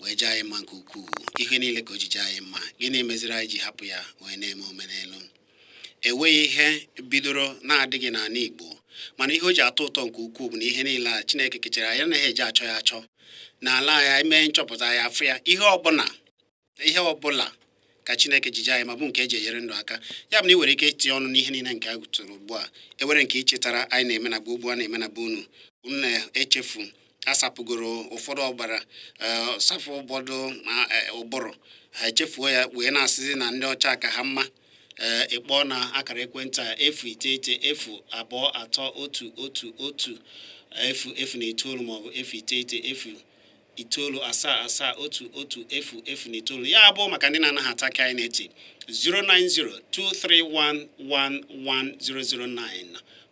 wee jaa anyị mma nke ukwuu ihe niile ka o ji jaa anyị mma gịnị meziri anyị ji hapụ ya wee na-eme omenelu enweghị ihe bidoro na-adịghị n'ala Igbo mana ihe o ji atọ ụtọ nke ukwuu bụ na ihe niile a Chineke kechara anyị anaghị eji achọ ya achọ n'ala ya emee nchọpụta ya afụ ya ihe ọbụla ihe ọbụla ka chineke ji jaa anyị mma bụ nke eji enyere ndụ aka ya bụ na ị nwere ike itinye ọnụ n'ihe niile nke a gụtụrụ ugbu a e nwere nke i chetara anyị na-eme na gboo gboo a na-eme na be unu unu na-echefu asapụgoro ụfọdụ ọbara eh, safụ ụfọdụ eh, ụbụrụ ha echefuo ya wee na-asịzi na ndị ọcha ka ha mma ee eh, ị kpọọ na akara ekwentị a efu iteghete efu abụọ atọ otu otu otu efu efu na itoolu maọbụ efu iteghete efu itoolu asaa asaa otu otu efu efu na itoolu ya bụ maka ndị na-anaghị ata ka anyị na-eti 09023111009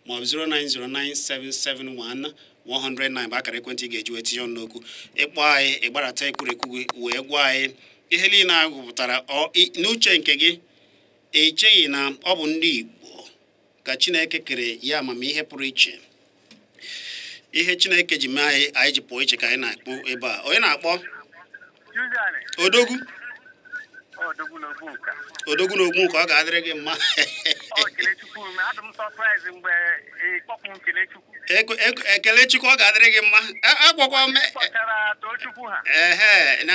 maọbụ 0909771 109 bụ akara ekwentị ị ga-eji wee tinye ọnụ n'okwu ị kpọọ anyị ị gbarata ekwurekwu gị wee gwa anyị ihe niile a gụpụtara n'uche nke gị i cheghị na ọ bụ ndị Igbo ka Chineke kere ya amamihe pụrụ iche ihe Chineke ji mee anyị anyị ji pụọ iche ka anyị na-akpọ ebe a onye na-akpọ Odogwu Odogwu na Ogbunka Odogwu na Ogbunka ọ ga-adịrị gị mma Ekelechukwu ọ ga-adịrị gị mma agwakwa m ehe na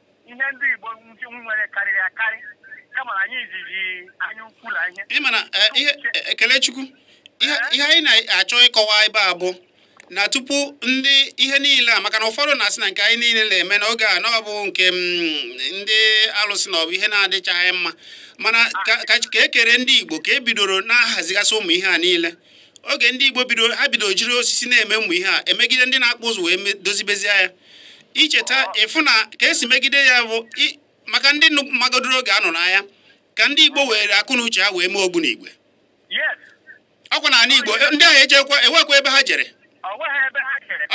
ihe ndị Igbo nwere karịrị akarị kama na anyị jiri anya ukwu na ihe ị mana eh, ihe eh, Ekelechukwu ihe eh? anyị na-achọ ịkọwa ebe a bụ na tupu ndị ihe niile a maka na ụfọdụ na-asị na nke anyị niile na-eme n'oge a na ọ bụ nke mm, ndị alụsị na ọ bụ ihe na-adịchaghị mma mana ka e kere ndị Igbo ka e bidoro na-ahazigasị ụmụ ihe a niile oge ndị Igbo bidoro ha bidoro jiri osisi na-eme ụmụ ihe a e megide ndị na-akpụ ụzụ wee dozibezie ya i cheta ị fụ na ka e si megide ya bụ maka ndị magodoro oge a nọ n'aya ka ndị Igbo were akọ na uche ha wee mee ogbunigwe ọkwa na ala Igbo ndị ahụ ejekwa enwekwa ebe ha jere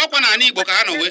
ọkwa na ala Igbo ka ha nọ wee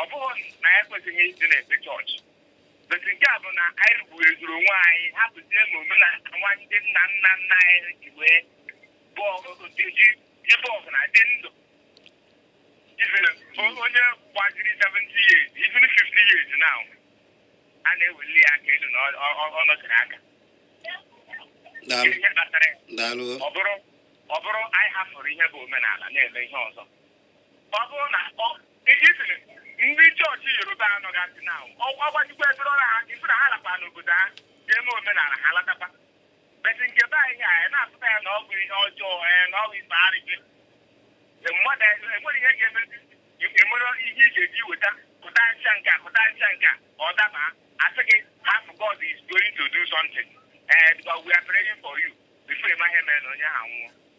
ọ bụghị na anyị ekwesịghị ịdị na-efe chọọchị but nke a bụ na anyị rugbuo ezuru onwe anyị hapụzie ma omenala nwa ndị nna nna nna anyị ji wee ji ibe ọgụ na-adị ndụ onye gbaziri 70 years even 50 years now a na-eweli ya aka elu na ọ nọchiri aka ọ bụrụ anyị hafụrụ ihe bụ omenala na-eme ihe ọzọ ọ bụrụ na isiri ndị chọọchị Yoruba anọgasị na ọgbajikwa efere ọrụ ha isi na ha lakwa n'obodo ha ga-eme omenala ha latakwa beti nke be anyị anyị na-afụta ya na ọ bụ ihe ọjọọ ee na ọ bụ ife arịgị mmadụ enwere ihe ga-emezi enwere ihe ị ga-eji weta pụta ncha nke a pụta ncha nke a ọ daba asị gị hapụ God is going to do something ee because we are praying for you before ịma ihe mere na onye ahụ anwụọ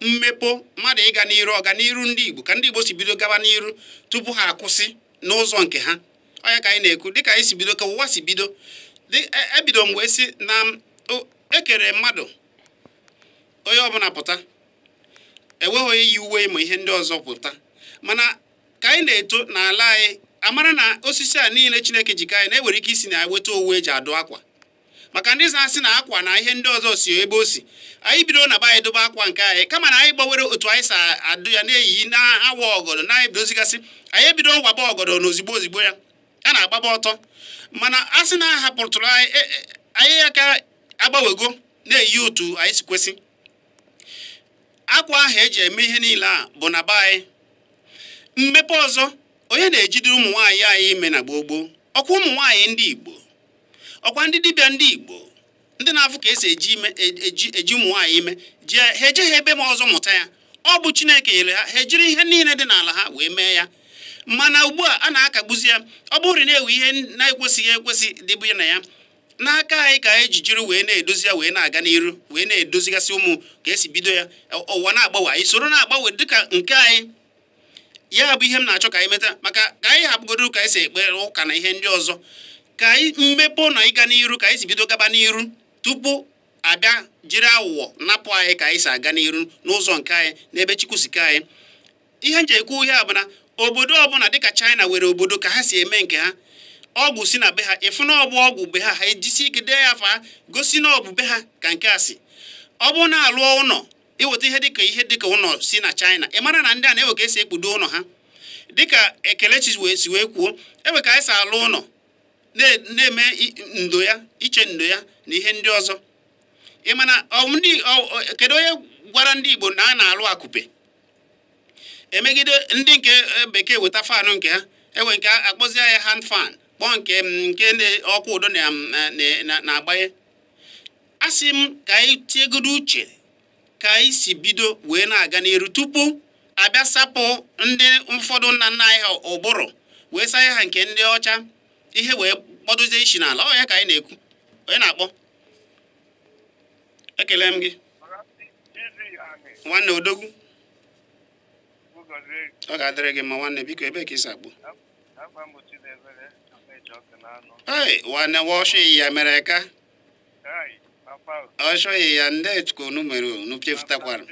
mmepe mmadụ ịga n'iru ọganiru ndị Igbo ka ndị Igbo si bido gaba n'iru tupu ha akwụsị n'ụzọ nke ha ọ ya ka anyị na-ekwu dịka anyị si bido ka ụwa si bido ebido e mgbe si na ekere mmadụ onye ọbụla pụta enweghị onye yi uwe ma ihe ndị ọzọ pụta mana ka anyị na-eto n'ala anyị amara na osisi a niile Chineke ji ka anyị na-ewere ike isi na weta owu eji adụ akwa maka ndị na-asị na akwa na ihe ndị ọzọ si ebe o si anyị bido na be anyị dụba akwa nke anyị kama na anyị gbanwere otu anyị si adụ ya na-eyi na-awa ọgọdọ na anyị bidozigasị anyị ebido waba ọgọdọ na ozigbo ozigbo ya a na-agbaba ọtọ mana a sị na ahapụtụrụ anyị e, e, anyị aka agbawego na-eyi otu anyị si kwesị akwa ahụ eji eme ihe niile a bụ na be anyị mmepe ọzọ onye na-ejidere ụmụ nwaanyị anyị ime na gboo gboo ọkwa ụmụ nwaanyị ndị Igbo ọkwa ndị dibịa ndị Igbo ndị na-afụ ka esi eji ime e, eji ụmụ nwaanyị ime ji ha eje ha ebe ma ọzọ mụta ya ọ bụ Chineke nyere ha ha ejiri ihe niile dị n'ala ha wee mee ya mana ugbu a a na-akagbuzi ya ọ bụrụ na ewe ihe na-ekwesịghị ekwesị dịbụ na ya n'aka anyị ka anyị ji jiri wee na-edozi ya wee na-aga n'iru wee na-edozigasị ụmụ ka esi bido ya ụwa na-agbanwe anyị soro na-agbanwe dịka nke anyị ya bụ ihe m na-achọ ka anyị meta maka ka anyị hapụgodo ka anyị si ekpe ụka na ihe ndị ọzọ ka anyị mmepe na ịga n'iru ka anyị si bido gaba n'iru tupu abịa jiri aghụghọ napụ anyị ka anyị si aga n'iru n'ụzọ nke anyị n'ebe Chukwu si kee anyị ihe m ji ekwu ihe a bụ na obodo ọbụla dịka China nwere obodo ka ha si eme nke ha ọgwụ si na be ha ịfụ na ọbụ ọgwụ be ha ha ejisi ike dee ya afa gosi na ọbụ be ha ka nke a si ọ bụrụ na alụọ ụlọ iweta ihe dịka ihe dịka ụlọ si na China ị mara na ndị a na ewe ka esi ekpudo ụlọ ha dịka e, Kelechi si wee kwuo ewe ka anyị si alụ ụlọ na-eme ndo ya iche ndo ya na ihe ndị ọzọ mana kedu onye gwara ndị Igbo na a na-alụ akụpe emegide ndị nke e, bekee weta fanụ nke ha enwe nke akpọzie ya hand fan kpọọ nke nke ọkụ ụdọ na-agbanye asị m ka anyị tiegodo uche ka anyị si bido wee na-aga n'iru tupu a bịa sapụ ndị ụfọdụ nna nna anyị ha ụbụrụ wee saa ha nke ndị ọcha ihe wee kpọdozie isi n'ala ọ ya ka anyị na-ekwu onye na-akpọ ekele m gị nwanne odogwu ọ ga-adịrị gị mma nwanne biko ebee ka i si akpọ ee nwanne wọshụ ya mere ka ọ chọghị ya ndị ka unu mere unu chefutakwara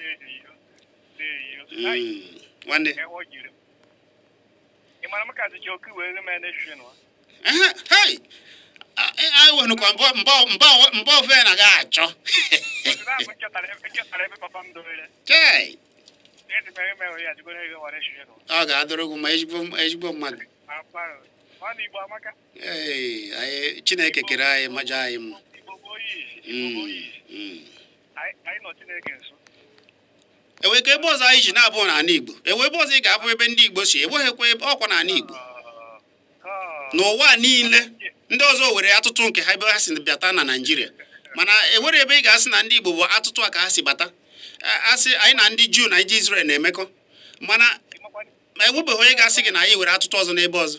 hmm, nwanne anyị wenụkwa mba ofe na ga achọ ọ ga-adịrị gị mma ezigbo mmadụ chineke kere anyị ma chọọ anyị mma hmm, hmm. enweghị ebe ọzọ anyị ji na-abụ n'ala igbo enwe ebe ọzọ ị ga-abụ ebe ndị igbo si enweghịkwa ebe ọkwa n'ala igbo n'ụwa niile ndị ọzọ nwere atụtụ nke ha ebe ha si bịata na naijiria mana enwere ebe ị ga-asị na ndị igbo bụ atụtụ a ka ha si bata a sị anyị na ndị juu na ndị izrel na-emekọ mana ma enwebeghị onye ga-asị gị na anyị nwere atụtụ ọzọ n'ebe ọzọ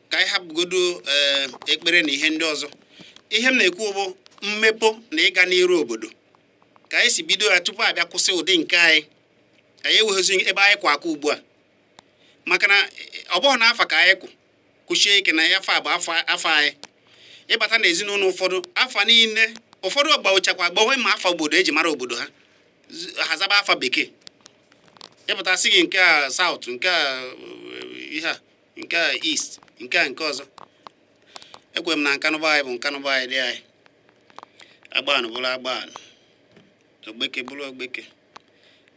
ka anyị hapụgodo eh, ekpere na ihe ndị ọzọ ihe m na-ekwu bụ mmepe na ịga n'iru obodo ka anyị si bido ya tupu a bịa kwụsị ụdị nke anyị anyị enweghịzi ebe anyị kwụ aka ugbu a maka na eh, ọ bụghị na afa ka anyị kwụ kwụsie ike na ya afa bụ afa anyị ị bata na ezinụlọ ụfọdụ afa niile ụfọdụ ọ gbanwechakwa agbanwe ma afa obodo e ji mara obodo ha ha zaba afa bekee ị pụta a sị gị nke a south nke a eh, ihe a nke a east nke a nke ọzọ ekwe m na nkanu be anyị bụ nkanu be anyị dị anyị agbani bụrụ agbani ogbeke bụrụ ogbeke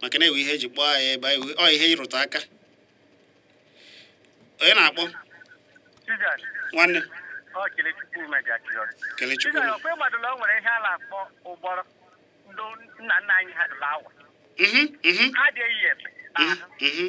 maka na enwe ihe e ji kpọọ anyị ebe anyị ọ ihe ịrụtụ aka onye na-akpọ nwanne kelechukwu nna nna anyị ha dụrụ awa mhm, mhm. ha dị eyi ebe mhm,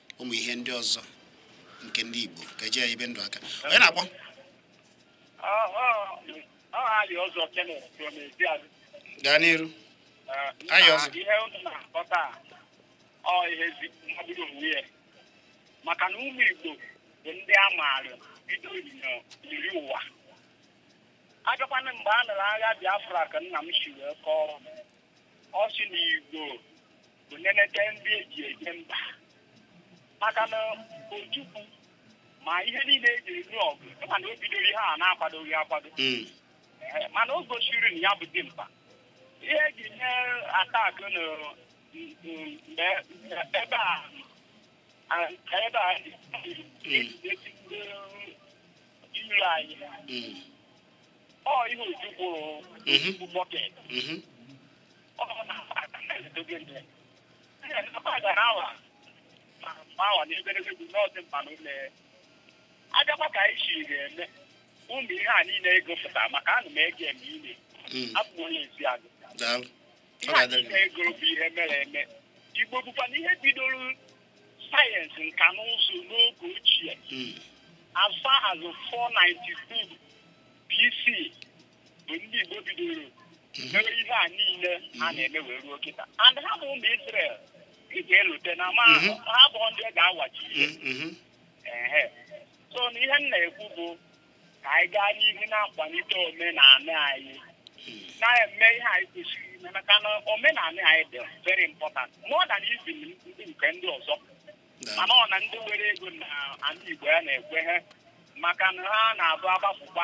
ụmụ ihe ndị ọzọ nke ndị Igbo ka e ji ya ebi ndụ aka onye na-akpọ gaa n'iru ihe unu na-akpọta ọ ihe mmadụ onwe ya maka na ụmụ Igbo bụ ndị a maara bido eri ụwa a bịakwa na mgbe a nụrụ agha Biafra ka nna m si wee kọọ ọ sị na Igbo bụ nenete ndị eji eje mba maka na Ojukwu ma ihe niile eji anụ ọgụ ịma na o bidoro ihe a na-akwadoghị akwado Mm. Ee, mana o gosiri na ya bụ dimkpa ihe eji eme attack na mm, mm, mgbe ebe a a- ebe a dị ejidesi ndị iro anyị Mm. ọ ihe Ojukwu Mhm. bụ bucket Mhm. abịakwa ka anyị si ga-eme ụmụ ihe a niile ị gụpụta maka ana m ege m ile hmm. abụ m onye Ezeagụ ihe a niile ị gụrụ bụ ihe mere eme Igbo bụkwa na ihe bidoro sayensị nka na ụzụ n'oge ochie hmm. as far as 492 BC bụ ndị Igbo bidoro mere ihe a niile a na-eme wee ruo kịta and ha bụ ụmụ Israel ị ga-elote na ma mhm. ha bụ ndị e ga-awachi ihe mhm. so na ihe m na-ekwu bụ ka anyị gaa n'ihu na-akwalite omenala anyị na-eme ihe anyị kwesịrị ime maka na omenala anyị dị very important more than even ndị nke ndị ọzọ mana ọ na ndị nwere ego n'ala Igbo ya na-ekwe ha maka na ha na-abụ agbapụkwa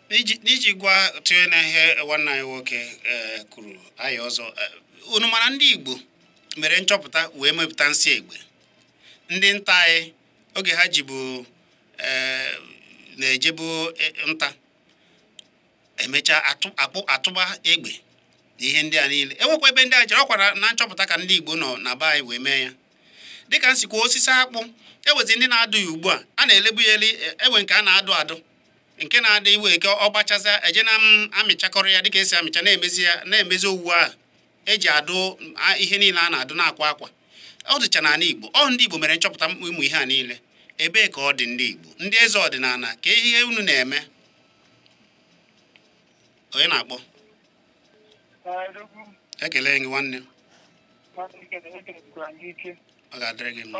n'iji gwa tụnye n'ihe nwanne anyị nwoke e, kwuru anyị ọzọ e, unu mara ndị Igbo mere nchọpụta wee mepụta nsị egbe ndị nta anyị oge ha jibu e, na-ejebu nta emechaa atụba egbe na ihe ndị a niile enwekwa ebe ndị a jere ọkwara na nchọpụta ka ndị Igbo nọ na be anyị wee mee ya dịka nsikwa osisi akpụ enwezi ndị na-adụ ya ugbu a a na-elibu ya eli enwe nke a na-adụ adụ nke na-adị iwe eke ọ gbachaza eje na amịchakọrọ ya dịka esi amịcha na-emezi ya na-emezi owu ahụ eji adụ ihe niile a na-adụ na-akwa akwa ọ dịcha n'ala Igbo ọ ndị Igbo mere nchọpụta ụmụ ihe a niile ebee ka ọ dị ndị Igbo ndị eze ọdịnala kee ihe unu na-eme onye na-akpọ ekele gị nwanne ọ ga-adịrị gị mma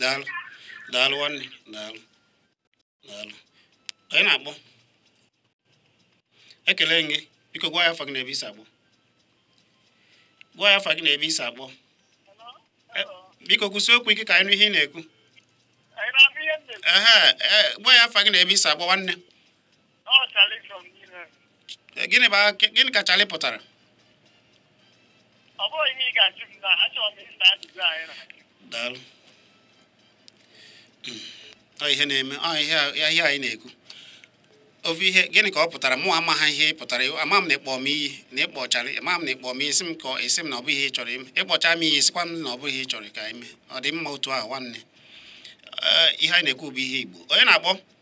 daalụ daalụ nwanne daalụ daalụ onye na-akpọ ekele gị biko gwa anyị afa gị na ebe i si akpọ gwa anyị afa gị na ebe i si akpọ e, biko kwusi okwu ike ka anyị nụ ihe ị na-ekwu e, gwa anyị afa gị na ebe i si akpọ nwanne Eh, gịnị bụ gịnị ka Charlie pụtara daalụ hmm. ọ ihe na-eme ọ ihe a anyị na-ekwu ofu ihe gịnị ka ọ pụtara mụ amaha ihe pụtara ama m na ịkpọ m iyi na ịkpọ ịkpọchara ama m na ịkpọ m isi m ka esi m na ọ bụghị ihe ị chọrọ ime ịkpọcha m iyi sịkwa m na ọ bụghị ihe ị chọrọ ka i mee ọ dị mma otu ahụ nwanne eh, ihe anyị na-ekwu bụ ihe Igbo onye na-akpọ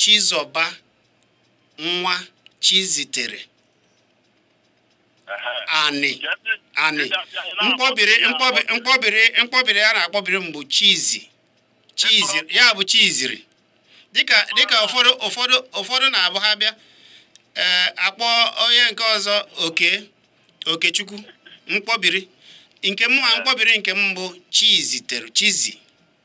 Chizọba nwa Chizitere Anị Anị mkpọbiri mkpọbiri mkpọbiri a na-akpọbiri m bụ Chizi Chizi ya bụ chiziri dịka dịka ụfọdụ ụfọdụ ụfọdụ na-abụ ha bịa eh, akpọ onye nke ọzọ Oke Okechukwu mkpọbiri nke mụ mkpọbiri nke m bụ Chizitere Chizi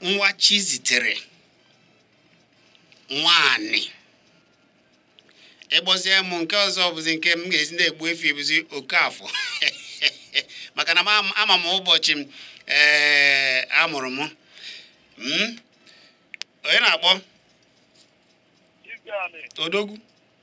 nwa Chizitere nwaanyị ị kpọzie m nke ọzọ bụzi nke m ga-esi na-egbu efi bụzi Okeafọ maka na ama m ụbọchị m ee eh, a mụrụ m hmm? onye na-akpọ odogwu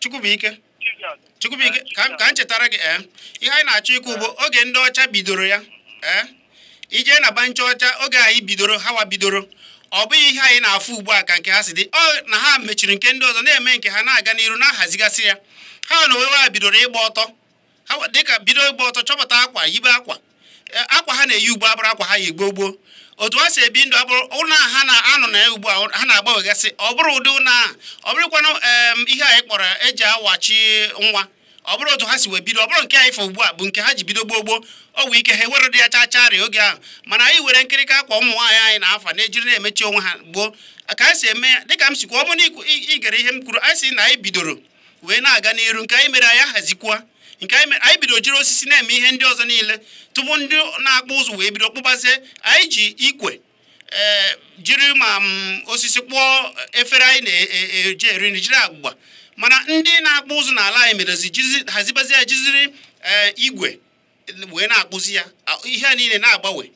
Chukwubuike Chukwubuike ka m chetara gị ee eh, ihe anyị na-achọ ikwu bụ oge ndị ọcha bidoro ya ee eh, ije na bancha ọcha oge anyị bidoro hawa bidoro ọ bụghị ihe anyị na-afụ ugbu a ka nke ha si dị ọ na ha mechiri nke ndị ọzọ na-eme nke ha na-aga n'iru na-ahazigasị ya ha n'onwe ha bidoro ịgba ọtọ ha dịka bido ịgba ọtọ chọpụta akwa yibe akwa e, akwa ha na-eyi ugbu a abụrọ akwa ha yi gboo gboo otu ha si ebi ndụ abụrọ ụlọ ha na-anọ na ya ugbu a ha na-agbanwegasị ọ bụrọ ụdị ụlọ a ọ bụrụkwanụ ihe anyị kpọrọ eji awachi nwa ọ bụrọ otu ha si wee bido ọ bụrọ nke anyị fụ ugbu a bụ nke ha ji bido gboo gboo ọ bụ ike ha ewere dị ya chaa chaa rịa oge ahụ mana anyị were nkirịka akwa ụmụ nwaanyị anyị na-afa na-ejiri na-emechi onwe ha gboo ka anyị si eme ya dịka m sikwa ọ bụrụ na i gere ihe m kwuru anyị si na anyị bidoro wee na-aga n'iru nke anyị mere anyị ahazikwa nke anyị bido jiri osisi na-eme ihe ndị ọzọ niile tupu ndị na-akpụ ụzụ wee bido kpụbazie anyị ji ikwe eh, jiri ma mm, osisi kpụọ efere anyị na-eji e, e, eri nri jiri agbụgba mana ndị na-akpụ ụzụ n'ala anyị merezi hazibazi ya jiziri eh, igwe wee na-akpụzi ya ihe a niile na-agbanwe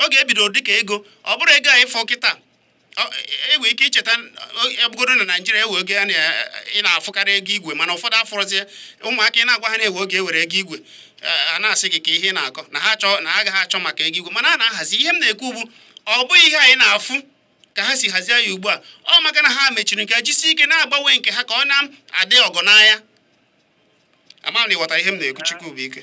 oge e bido dịka ego ọ bụrọ ego anyị fụ kịta i nwee ike icheta ebugodo na Naịjirịa e nwe oge ya ị na-afụkarị ego igwe mana ụfọdụ afụrọzie ụmụaka ị na-agwa ha na e nwe oge e nwere ego igwe ha na-asị gị kee ihe ị na-akọ na ha chọọ na ha agaghị achọ maka ego igwe mana a na-ahazi ihe m na-ekwu bụ ọ bụghị ihe anyị na-afụ ka ha si hazie ya ugbu a ọ maka na ha mechiri nke jisi ike na-agbanwe nke ha ka ọ na-adị ọgọ n'anya ama m na ị ghọtara ihe m na-ekwu Chukwubuike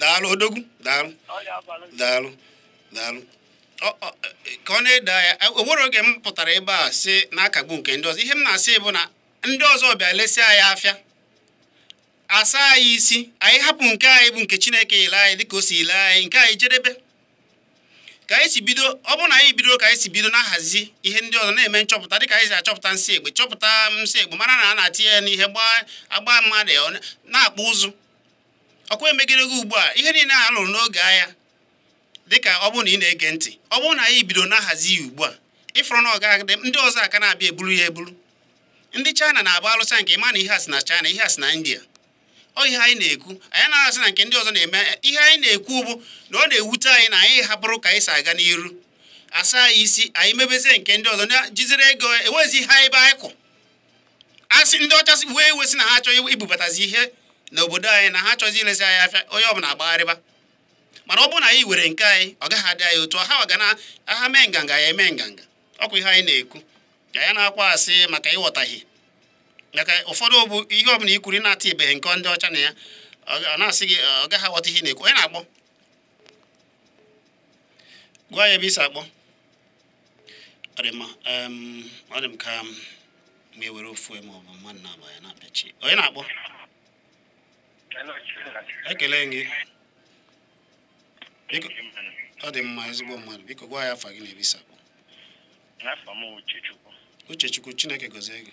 daalụ odogwu daalụ daalụ daalụ ka ọ na-ede ya o nwere oge m pụtara ebe a si na-akagbu nke ndị ọzọ ihe m na-asị bụ na ndị ọzọ bịa lesịa anyị afịa asa anyị isi anyị hapụ nke anyị bụ nke chineke ile anyị dịka o si ile anyị nke anyị jedebe ka anyị si bido ọ bụrụ na anyị bido ka anyị si bido na-ahazi ihe ndị ọzọ na-eme nchọpụta dịka anyị si achọpụta nsị egbe chọpụta nsị egbe mara na a na-atinye ya n'egbe agba mmadụ na-akpụ ụzụ ọkwa emegide gị ugbu a ihe niile a lụrụ n'oge agha dịka ọ bụrụ na ị na-ege ntị ọ bụrụ na anyị bido na-ahazi ya ugbu a ịfụrụ na ọ ga-agade ndị ọzọ aka na-abịa eburu ya eburu ndị China na-agba alụsa nke ịma na ihe a si na China ihe a si na India ọ ihe anyị na-ekwu anyị na-asị na nke ndị ọzọ na-eme ihe anyị na-ekwu bụ na ọ na-ewute anyị na anyị hapụrụ ka anyị si aga n'iru asa anyị isi anyị mebezie nke ndị ọzọ na jizere ego ewezi ihe anyị be anyị kwụ a sị ndị ọcha wee iwe sị na ha achọghị ibubatazi ihe n'obodo anyị na ha achọghịzi ilezi anyị afịa onye ọbụla agbagharịba mana ọ bụrụ na anyị were nke anyị ọ gaghị adị anyị otu ha ga na ha mee nganga anyị eme nganga ọkwa ihe anyị na-ekwu ka anyị na-akọwasị maka ịghọtaghị maka ụfọdụ bụ ihe ọbụla i kwuru na-ata ibeghị nke ndị ọcha na ya ọ na-asị gị ọ gaghị aghọta ihe ị na-ekwu onye na-akpọ gwa anyị ebe i si akpọ ọ dị mma ọ dị m ka ma ewere ofu ma ọ bụ mmadụ naabọ anyị na-apịachi onye na-akpọ ekele gị ọ dị mma ezigbo mmadụ biko gwa anyị afa gị na ebe i si akpọ Uchechukwu Chineke gọzie gị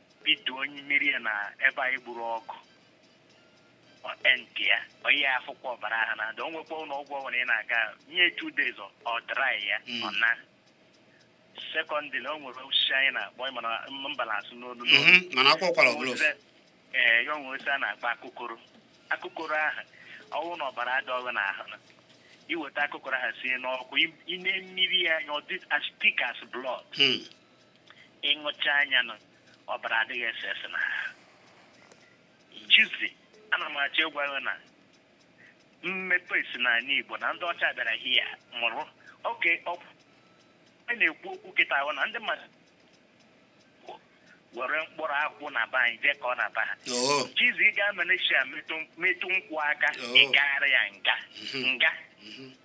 bido onye mmiri ya na ebe anyị gburu ọgụ ọtentị ya onye afụkwa ọbara ahụ na ada o nwekwa ụlọ ọgwụ ọbụla ị na-aga nye two days ọ- ọ dry ya Mm. ọ na secondly o nwere osisi anyị na-akpọ ị ma na mba na-asụ n'olu n'olu Mhm, mana a kwaa ụkwara ọ bụrụ ofu ee ya o nwe osisi a na-akpọ akụkoro akụkoro ahụ ọ wụ na ọbara adịrọ ghụ n'ahụ i weta akụkoro ahụ sie n'ọkụ ị- i nee mmiri ya anya ọ dị as thick as blood Hmm. ị ṅụchaa ya nụ ọbara adịghị ese ese n'ahụ Chizzy ana m achọ ịgwa gị na mmepe si n'ala Igbo na ndị ọcha bịara here mụrụ nwoke a na-ekwu okwu kịta ahụ na ndị mmadụ were mkpụrụ akwụ na be anyị jee kụọ na be ha Oo, Chizzy ị gaa Malaysia metụ metụ nkwụ aka Oh. ị gara ya nga mhm, nga mhm.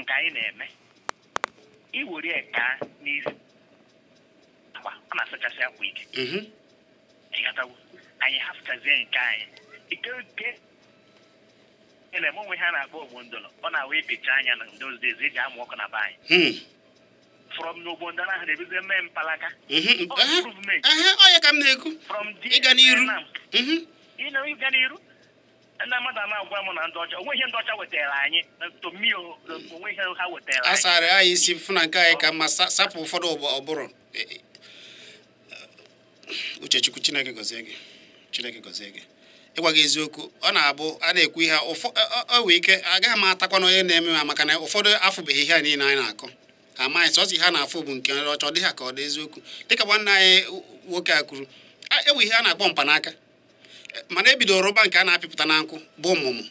nke anyị na-eme i were ya ka na-asụ akwa ọ na-asachasị akwa ike mhm. ị ghọtawo anyị hafụchazie nke anyị ike oke ele m o nwe ihe a na-akpọ ogbo ndọrọ ọ na-awụ a pịchaa ya na those days e ji amụ ọkụ na be anyị hmm. from n'ogbo ndọrọ ahụ na-ebido mee mpalaka mhm. ọ ya ka m na-ekwu ịga n'iru ịga n'iru ndị mmadụ a na-agwa m na ndị ọcha o nwe ihe ndị ọcha wetara anyị na ntomi o, na o nwe ihe ha wetara a anyị sara anyị isi fụ na nke anyị ka mma sa- sapụ ụfọdụ ụbọ- ọ bụrụ E- e- uchechukwu chineke gọzie gị chineke gọzie gị ịgwa gị eziokwu ọ na-abụ a na-ekwu ihe ụfọ ọ- ọ- ọ nwee ike agaghị m atakwa na onye na-eme ha maka na ụfọdụ afụbeghị ihe a niile anyị na-akọ amaghị sọsọ ihe a na-afụ bụ nke ọcha ọ dị ha ka ọ dị eziokwu dịka nwanne anyị nwoke a kwuru a- enwe ihe a na-akpọ mkpanaka mana ebidoro rụba nke a na-apịpụta na nkụ bụ mmụmụ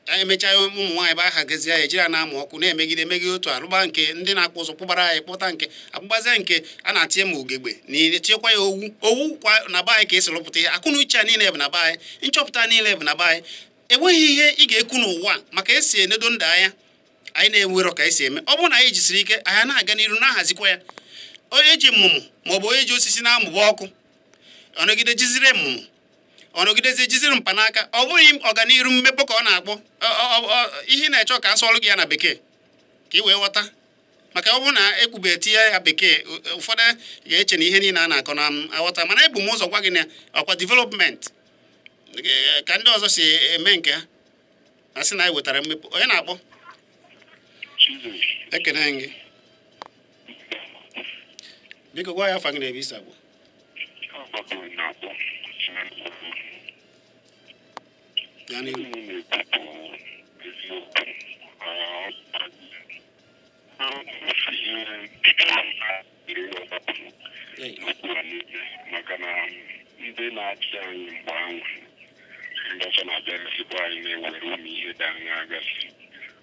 ka anyị mechaa ụmụ nwaanyị bụ ahagazie ya ejiri na-amụ ọkụ na-emegide emegide otu arụba nke ndị na-akpụ ụzụ kpụbara anyị kpụta nke akpụgbazie nke a na-atinye ma ugegbe na etinyekwa ya owu owu kwa na be anyị ka esi rụpụta ihe akọ na uche a niile bụ na be anyị nchọpụta niile bụ na be anyị enweghị ihe ị ga-ekwu n'ụwa maka esi enedo ndụ anya anyị na-enwerọ ka anyị si eme ọ bụrụ na anyị jisiri ike anyị na-aga n'iru na-ahazikwa ya onye ji mmụmụ maọbụ onye ji osisi na-amụba ọkụ ọ nọgide jiziri mmụmụ ọ nọgidezi jiziri mkpanaka ọ bụghị ọganiru mmepụ ka a na-akpọ ya ị na-achọ ka a sụọlụ gị ya na bekee ka ị wee ghọta maka ọ bụrụ na ekwube tinye ya bekee ụfọdụ ga-eche na ihe niile a na-akọ na aghọta mana ebu m ụzọ gwa gị na ọkwa development ka ndị ọzọ si eme nke ha a sị na anyị wetara mmepụ onye na-akpọ ekene m gị biko gwa anyị afa gị na ebe i si agwa anyị okwu maka na ndị na-achị anyị mgbe ahụ ndị ọzọ na-abịa ezigbo anyị na-ewere ụmụ ihe dị anya agasị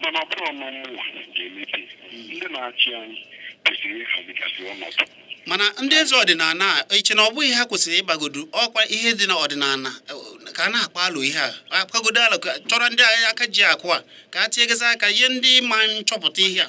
mana ọ bụrụ na mmụmụ ga-emepe ndị na-achị anyị kwesịrị ịhazigasị ọnọdụ mana ndị eze ọdịnala i che na ọ bụghị ha kwesịrị ịgbagodu ọkwa ihe dị na ọdịnala ka a na-akpa alo ihe a akpagodo alo chọrọ ndị aka ji akụ a ka a tinyegezi aka ihe ndị ma nchọpụta ihe a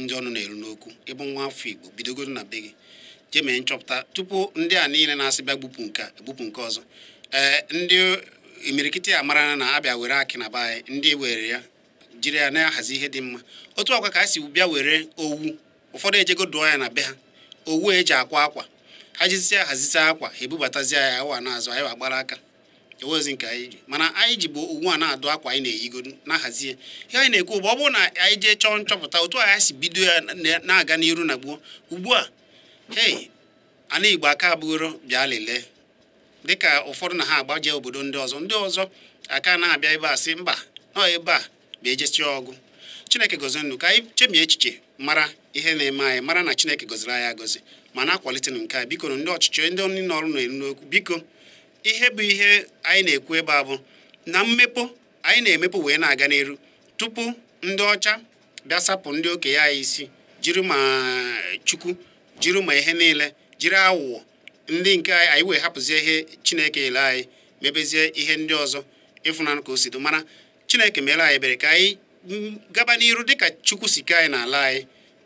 ndị ọnụ na-eru n'okwu ịbụ nwa afọ Igbo bidogodo na be gị jee mee nchọpụta tupu ndị a niile na-asị bịa gbupụ nke a gbupụ nke ọzọ ee ndị imirikiti a mara na abịa were akị na be anyị ndị were ya jiri ya na-ahazi ihe dị mma otu a kwa ka a si bịa were owu ụfọdụ ejego dụọ ya na be ha owu eji akwa akwa ha jizie ahazizi akwa ha ebubatazie ya awa na-azụ anyị agbara aka ewezi nke anyị ji mana anyị jibu owu a na-adụ akwa anyị na-eyigo na-ahazie ihe anyị na-ekwu bụ ọ bụrụ na anyị jee chọọ nchọpụta otu anyị si bido ya na-aga n'iru na gboo ugbu a hei ana igbo aka abụgoro bịa lelee dịka ụfọdụ na ha agbaje obodo ndị ọzọ ndị ọzọ aka na-abịa ebe a sị mba nọ ebe a bịa ejechi ọgụ chineke gọzie unu ka anyị chemie echiche mara ihe na-eme anyị mara na chineke gọziri anyị agọzi ma na-akwalite nke a biko ndị ọchịchị ndị ọnụ na-eru n'okwu biko ihe bụ ihe anyị na-ekwu ebe a bụ na mmepụ anyị na-emepụ wee na-aga n'iru tupu ndị ọcha bịa sapụ ndị okenye anyị isi jiri ma chukwu jiri ma ihe niile jiri awụwọ ndị nke anyị wee hapụzie ihe chineke kele anyị mebezie ihe ndị ọzọ ị fụnanụ ka o si dị mana chineke meela anyị ebere ka anyị gaba n'iru dịka chukwu si ke anyị n'ala anyị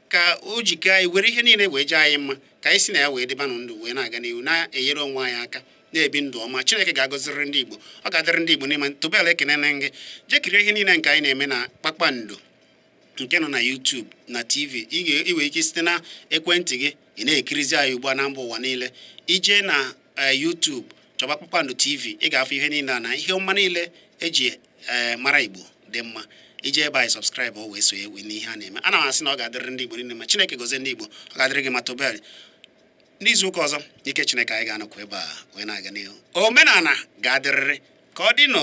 ka o jikọ anyị were ihe niile wee jee anyị mma ka anyị si na ya wee dịba ndụ wee na-aga n'ihu na-enyere onwe anyị aka na-ebi ndụ ọma chineke ga-agọziriri ndị igbo ọ ga-adịrị ndị igbo mma tụbel ekene na gị jee kirie ihe niile nke anyị na-eme na kpakpando nke nọ na YouTube na TV i nwee ike site na ekwentị gị ị na-ekirizi anyị ugbu a na mba ụwa niile i jee na eh, YouTube chọba kpakpando TV ị ga-afụ ihe niile a na ihe ọma niile eji ee eh, mara igbo dị mma i jee ebe anyị subscribe o wee sonye n'ihe a na-eme ana m asị na ọ ga-adịrị ndị igbo niile mma chineke gozie ndị igbo ọ ga-adịrị gị mma tobel n'izu ụka ọzọ ike chineke anyị ga-anọkwa ebe a wee na-aga n'ihu omenala ga-adịrịrị ka ọ dị nụ